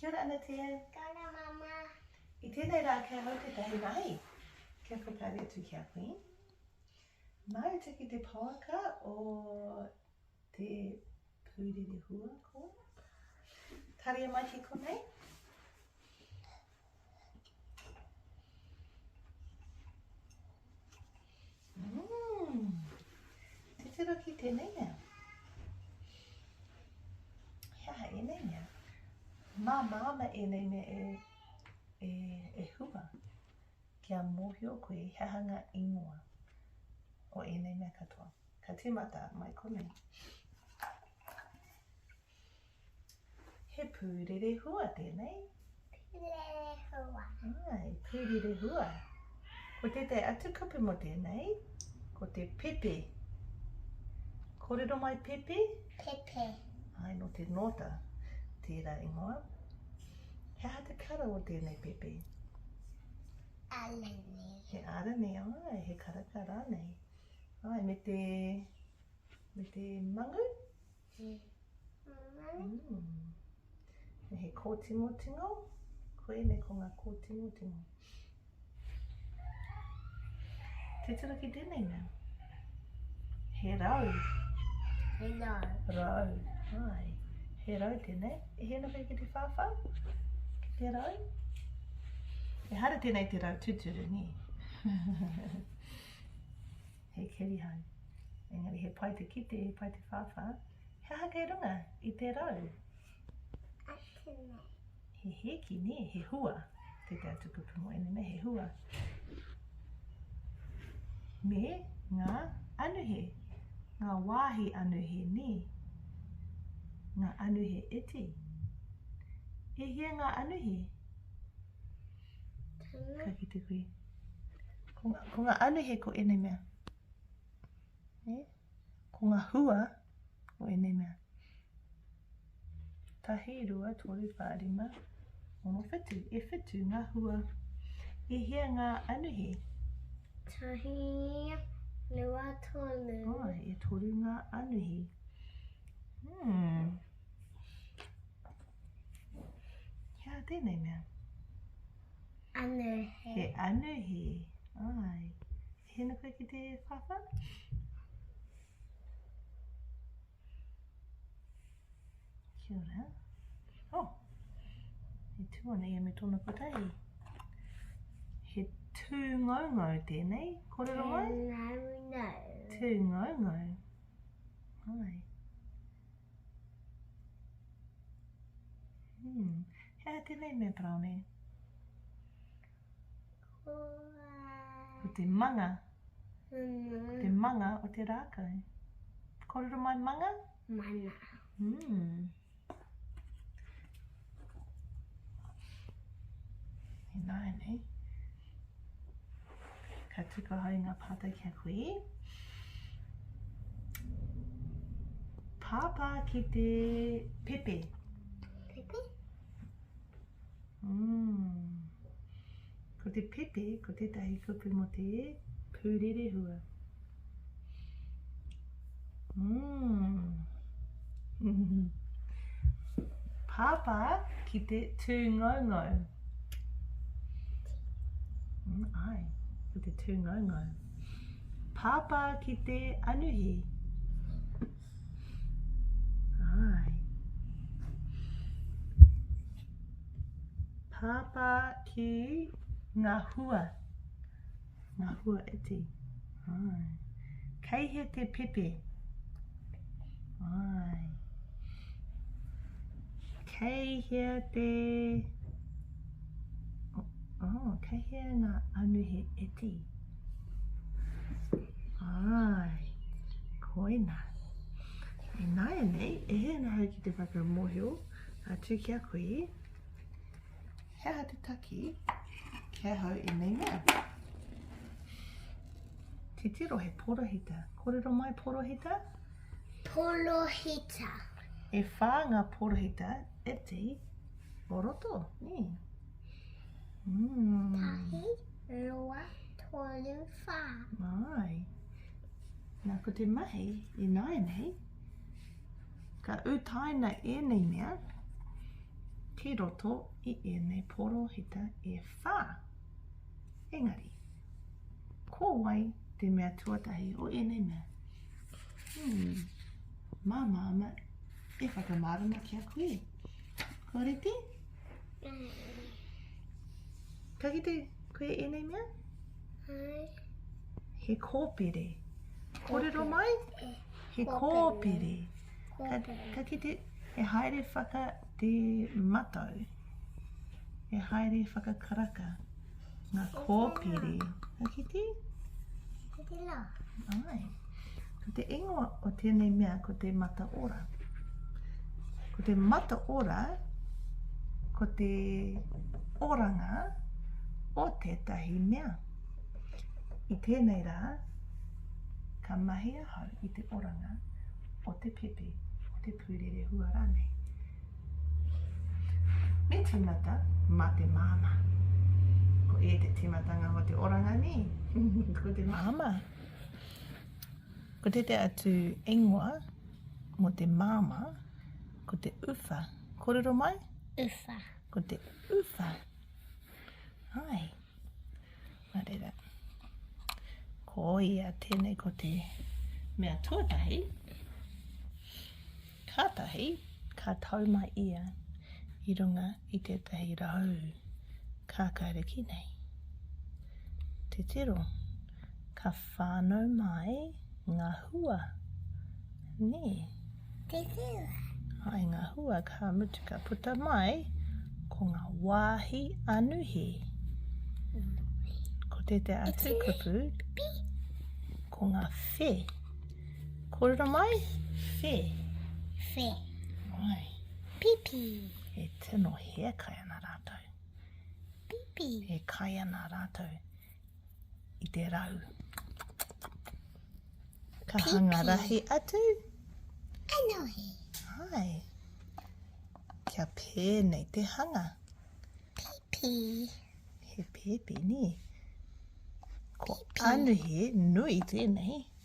Kia ora ana Tia. Kia ora mama. I tenei ra kei hau tetahi rahi. Kia whakaari atu ki a koe. Mau tiki te pouaka o te purere hua ko. Taria mai ki konei. Mmm, titiro ki tēnei mea. He aha ēnei mea? Mā māna ēnei mea e, e, e hua kia mōhio koe he aha ngā ingoa o ēnei mea katoa. Ka tīmata mai konei. He pūrere hua tēnei. Pūrere hua. Ai, pūrere hua. Ko tētai atu kupu mo tēnei, ko te pepe. Kōrero mai pepe? Pepe. Ai, no te nōta. Tērā ingoa. He aha te kara o tēnei pepe? Arani. He arani, ai, he karaka rānei. Ai, me te, me te mangu? He he kōtingotingo, koinei ko ngā kōtingotingo. Titiro ki tēnei mea. He rau. He rau. Rau. Hai. He rau tēnei. E hēna koe ki te whāwhā? Ki te rau? E hara tēnei te rau tūturu, nē? he kerihau. Engari he pai te kite, he pai te whāwhā, he aha kei runga i te rau? Atu nei. He hēki, nē, he hua. Te te atu kupu mo ene nei, he hua. Me ngā anuhe, ngā wāhi anuhe, nē. Ngā anuhe iti. E hia ngā anuhe? Ka kite koe. Ko, ko ngā anuhe ko ēnei mea. E? Ko ngā hua ko ēnei mea. Tahi, rua, toru, whā, rima, ono, whitu. E whitu ngā hua. E hea ngā anuhe? Tahi, rua, toru. Oh, e toru ngā anuhe. Hmm. Kia tēnei mea. Anu he. He anu he. Ai. He nuku ki te whawha? Kia ora. Oh. He tū ana ia me tōna patahi. He tū ngaungau tēnei. Korero mai? Tū ngaungau. Tū ngaungau. Ai. Hmm. He aha tēnei mea paraone? Ko te manga. Ko te manga o te rākau. Kōrero mai manga? Mana. Hmm. He nāi nei. Ka tiko hou nga pātai ki a koe. Pāpā ki te pepe. Pepe? Mm. Ko te pepe, ko tētahi kupu mo te pūrerehua. Mm. Pāpā ki te tū ngaungau. Mm, ai, ki te tū ngaungau. Pāpā ki te anuhi. Ai. Pāpā ki ngā hua. Ngā hua iti. Ai. Kei he te pepe. Ai. Kei he te... Oh, kei he ngā anuhe iti. Ai. Koina. E nāia nei, e he nahau ki te whakamōhio, atu ki a koe. He aha te taki ki ahau i nei mea? Titiro he porohita. Kōrero mai porohita? Porohita. E whā ngā porohita e te o roto, nē? Mm. Tahi, roa, tolu, whā. Mai. Nā, ko te mahi i nāianei, Ka utaina ēnei mea ki roto i ēnei porohita e whā. Engari, ko wai te mea tuatahi o ēnei mea? Hmm. Mā māma e whakamārama ki a koe. Ko reti? Ka kite koe ēnei mea? Hai. He kōpere. Kōrero mai? He kōpere. Ka, ka kite, he haere whaka te matau. He haere whakakaraka. Ngā kōpere. Ka kite? Ka kite la. Ai. Ko te ingoa o tēnei mea ko te mata ora. Ko te mata ora, ko te oranga o tētahi mea. I tēnei rā, ka mahi ahau i te oranga o te pepe, o te pūrerehua rānei. Me tīmata mā te māmā. Ko e te tīmatanga o te oranga nī, ko te māmā. Ko te te atu ingoa mo te māma, ko te uwha. Korero mai? Uwha. Ko te uwha. Hai. Nā reira, ko ia tēnei ko te mea tuatahi, kātahi ka tau mai ia i runga i tētahi rau kākāriki nei. Te tiro, ka whānau mai ngā hua, nē. Te whewa. Hai ngā hua ka mutu ka puta mai, ko ngā wāhi anuhi. Ko te te atu kupu, ko ngā whē. Kōrero mai, whē. Whē. Mai. Pipi. E tino hea kai ana rātou. Pipi. E kai ana rātou. i te rau. Ka Pipi. hanga rahi atu. Kanohi. Hai. Kia pēnei te hanga. Pipi. He pipi, ni. Ko Pipi. anuhi, nui tēnei.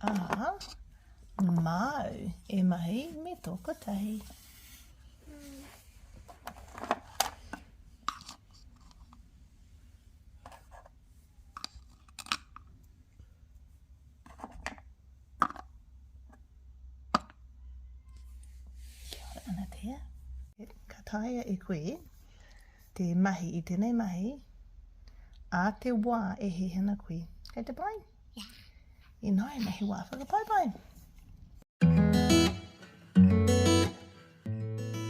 Aha. Māu, e mahi me tō kotahi. Kia ora ana te. Ka taea e koe te mahi i tenei mahi, a te wa e hihina kui. Kei te pai? Yeah. Inoina, he wa whakapaipai.